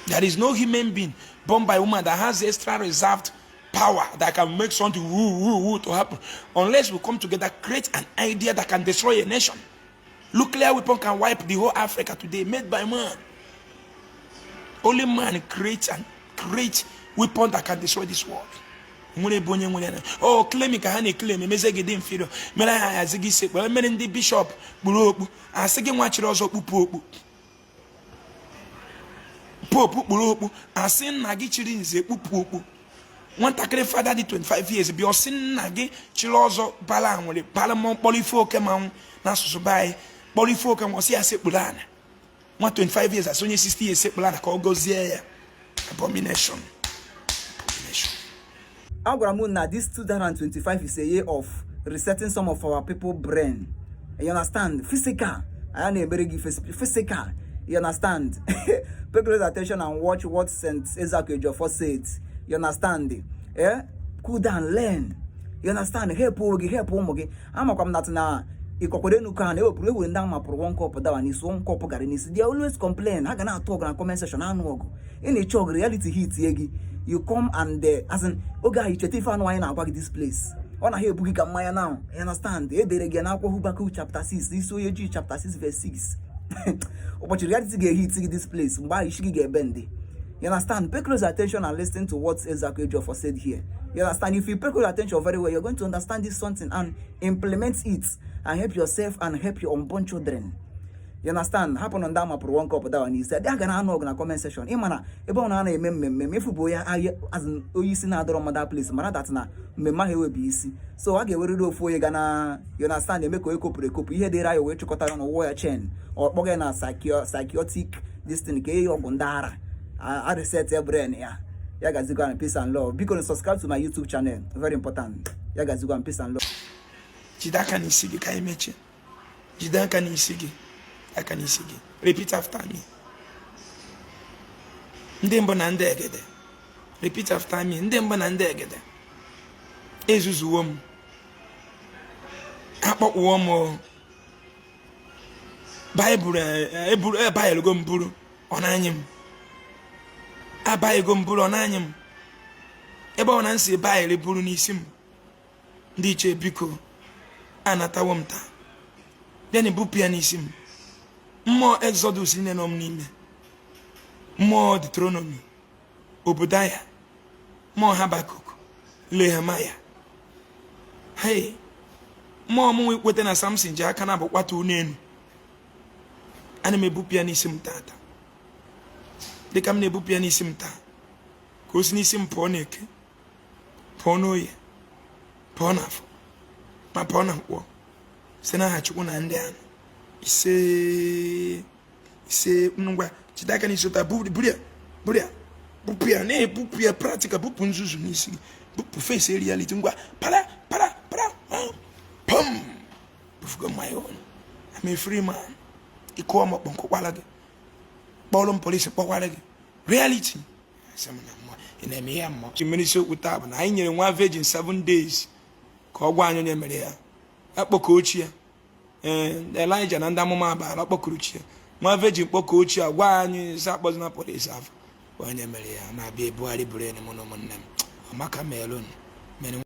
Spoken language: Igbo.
There is no human being born by woman that has extra reserved power that can make something woo, woo, woo to happen unless we come together, create an idea that can destroy a nation. Nuclear weapon can wipe the whole Africa today, made by man. Only man creates and creates weapon that can destroy this world. nwere ebe onye nwere o oh, klemi ka ha na-eklemi emeze gị dị mfiro mere ha ahazi gị ise kpere mere ndị bishọp kpuru okpu asị gị nwa chiri ọzọ kpupụ okpu popu kpuru okpu asị nna gị chiri nze kpupụ okpu nwatakịrị fada dị 25 years bịa ọ sị nna gị chiri ọzọ bala nwere bala mmụọ kpọrọ ife oke mmanwụ n'asụsụ be anyị kpọrọ ife oke mmụọ sị ya sekpuru ana nwa 25 years asị onye 60 years sekpuru ana ka ọ gọzie ya abomination agwara m na this 2025 is a year of resetting some of our people brain you understand physical anya na-emere gị physical you understand pay close attention and watch what Saint Ezeaku Ejiofor said you understand eh cool down learn you understand help onwe gị help ụmụ gị amakwa m natụ na ịkọkwado enu ka na ewepụrụ ewere ndị a mapụrụ one cup dawa n'isi one cup garri n'isi they always complain ha ga na-anụ ọgụ na comment section anụ ọgụ ị na-eche oge reality hitie gị you come and eh, as in oge ahụ i cheta ife ahụ anyị na-agwa gị this place ọ naghị ebu gị ka mmanya na you understand e dere gị n'akwụkwọ Habakkuk chapter 6 isi onye Juu chapter 6 verse 6 ụbọchị reality ga-ehit gị this place mgbe ahụ isi gị ga-ebendi You understand? Pay close attention and listen to what Ezeaku Ejiofor said here. You understand? If you pay close attention very well, you're going to understand this something and implement it and help yourself and help your unborn children. you understand hapụ na ndị a mapụrụ one cup dawa n'isi ndị a ga na-anụ ọgụ na comment section ịma na ebe ọbụna a na-eme mmemme mefu bụ onye ahịa azụ onye isi na-adịrọ mma that place mara dat na mmemme ahụ enwebi isi so a ga-ewerịrị ofu onye ga na you understand eme ka onye kopụrụ ekopụ ihe dịra ya wee chịkọtara na ụwọ ya chain ọ kpọga ya na psychiatric destin ka e nye ya ọgwụ ndị ara a reset ya brain ya ya gazigwa na peace and love biko na subscribe to my youtube channel very important ya gazigwa na peace and love jide aka n'isi gị ka anyị mechie jide aka n'isi gị aka n'isi gị repeat after me ndị mbụ na ndị egede repeat after me ndị mbụ na ndị egede ezuzuwo m akpọkpụwo m baịbụl eburu eh, ebaghịlụgo eh, m buru ọ na-anyị m abaghịgo m buru ọ na-anyị m ebe ọbụna m si baịbụl buru n'isi m ndị ichie biko anatawo m taa bịanị bupụ ya n'isi m mmụọ exodus niile nọ m n'ime mmụọ deuteronomy obadiah mmụọ habakkuk nehemiah hei mmụọ mụnwa ikweta na samson ji aka naabọ kpatuo ụnọ enu ana m ebupụ ya n'isi m tata dịka m na-ebupụ ya n'isi m taa ka o si n'isi m pụọ n'eke pụọ n'oye pụọ n'afọ ma pụọ na nkwọ si n'aha chukwu na ndị ahụ isee isee ngwa jide aka n'isi ụta buru ya buru ya bupụ ya na-ebupụ ya practical bupụ nzuzu n'isi gị bupụ face reality ngwa para para para pam bufugo my own I'm a free man ị kụọ m ọkpọ m kụkwara gị kpọrọ m police kpọkwara gị reality ị na-eme ihe mụ ji mere isiokwu taa bụ na anyị nyere nwa virgin seven days ka ọ gwa anyị onye mere ya ya kpọkuo chi ya ee elijah na ndị amụma baal ọ kpọkuru chi ya nwa virgin kpọkuo chi ya gwa anyị sị akpọzina police afa onye mere ya na-abịa ebugharị buru enyi m na ụmụnne m amaka melon